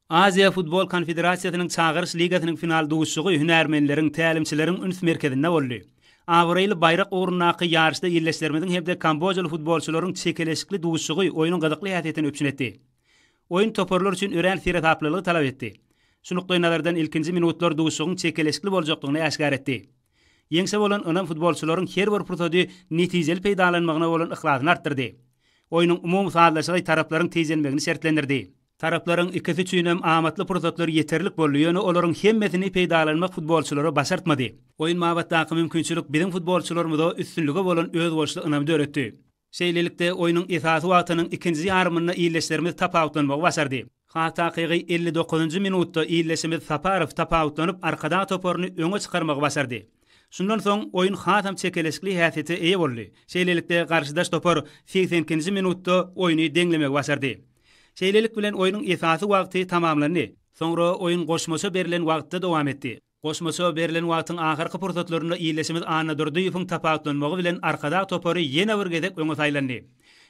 Aziýa Futbol Konfederasiýasynyň Çagyryş ligasynyň final duşuşygy hünärmenleriň, tälimçileriň üns merkezinde boldy. Abraýly baýrak ugrundaky ýaryşda ildeşlerimiziň hem-de kambojaly futbolçylaryň çekeleşikli duşuşygy oýnuň gyzykly häsiýetini üpjün etdi. Oýun toparlar üçin örän seresaplylygy talap etdi. Şu nukdaýnazardan ilkinji minutlar duşuşygyň çekeleşikli boljakdygyny äşgär etdi. Ýeňşe bolan ynam futbolçylaryň her bir pursady netijeli peýdalanmagyna bolan yhlasyny artdyrdy. Oýnuň umumy sazlaşygy taraplaryň tijenmegini şertlendirdi. Taraplaryň ikisi üçin hem amatly pursatlar ýeterlik boldy, ýöne olaryň hemmesini peýdalanmak futbolçylara başartmady. Oýun babatdaky mümkinçilik biziň futbolçylarymyza üstünlige bolan özboluşly ynamy döretdi. Şeýlelikde, oýnuň esasy wagtynyň ikinji ýarymynda ildeşlerimiz tapawutlanmagy başardy. Has takygy, elli dokuzynjy minutda ildeşimiz Saparow tapawutlanyp, Arkadag toparyny öňe çykarmagy başardy. Şundan soň oýun hasam çekeleşikli häsiýete eýe boldy. Şeýlelikde, garşydaş topar segsen ikinji minutda oýny deňlemegi başardy. Şeýlelik bilen, oýnuň esasy wagty tamamlandy. Soňra oýun goşmaça berlen wagtda dowam etdi. Goşmaça berlen wagtyň ahyrky pursatlarynda ildeşimiz Annadurdyýewiň tapawutlanmagy bilen Arkadag topary ýene bir gezek öňe saýlandy.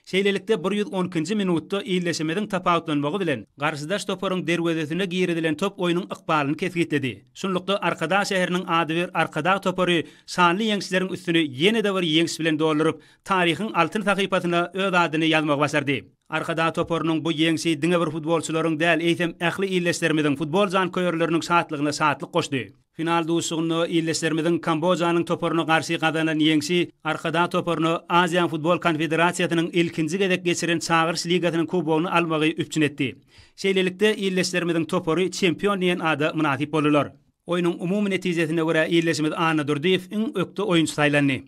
Şeýlelikde, bir ýüz on ikinji minutda ildeşimiziň tapawutlanmagy bilen garşydaş toparyň derwezesine girizilen top oýnuň ykbalyny kesgitledi. Şunlukda, Arkadag şäheriniň adybir Arkadag topary şanly ýeňişleriň üstüni ýene-de bir ýeňiş bilen dolduryp, taryhyň altyn sahypasyna öz adyny ýazmagy başardy. Arkadag toparynyň bu ýeňşi diňe bir futbolçylaryň däl, eýsem, ähli ildeşlerimiziň, futbol janköýerleriniň şatlygyna şatlyk goşdy. Final duşuşygynda ildeşlerimiziň Kambojanyň toparyna garşy gazanan ýeňşi Arkadag toparyna Aziýa Futbol Konfederasiýasynyň ilkinji gezek geçiren Çagyryş ligasynyň kubogyny almagy üpjün etdi. Şeýlelikde, ildeşlerimiziň topary çempion diýen ada mynasyp boldular. Oýnuň umumy netijesine görä ildeşimiz Annadurdyýew iň ökde oýunçy saýlandy.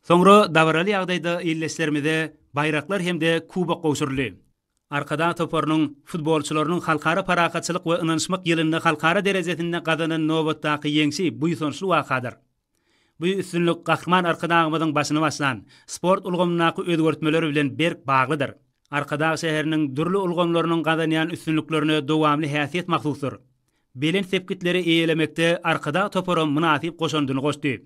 Soňra dabaraly ýagdaýda ildeşlerimize baýraklar hem-de kubok gowşuryldy. Arkadag toparynyň futbolçylarynyň Halkara parahatçylyk we ynanyşmak ýylynda halkara derejesinde gazanan nobatdaky ýeňşi buýsançly wakadyr. Bu üstünlik Gahryman Arkadagymyzyň başyny başlan sport ulgamyndaky özgertmeler bilen berk baglydyr. Arkadag şäheriniň dürli ulgamlarynyň gazanýan üstünliklerine dowamly häsiýet mahsusdyr. belent sepgitleri eýelemekde Arkadag toparam mynasyp goşandyny goşdy.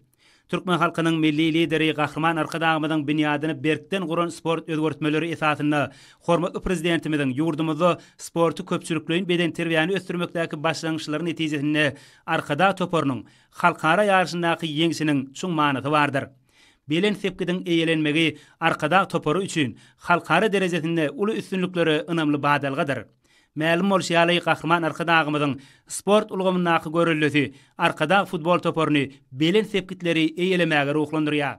Türkmen halkynyň Milli Lideri Gahryman Arkadagymyzyň binýadyny berkden guran sport özgertmeleri esasynda hormatly Prezidentimiziň ýurdumyzda sporty köpçülikleýin bedenterbiýäni ösdürmekdäki başlangyçlary netijesinde Arkadag toparynyň halkara ýaryşyndaky ýeňşiniň çuň manysy bardyr. Belent sepgidiň eýelenmegi Arkadag topary üçin halkara derejesinde uly üstünliklere ynamly badalgadyr. Mälim bolşy ýaly, Gahryman Arkadagymyzyň sport ulgamyndaky göreldesi Arkadag futbol toparyny belent sepgitleri eýelemäge ruhlandyrýar.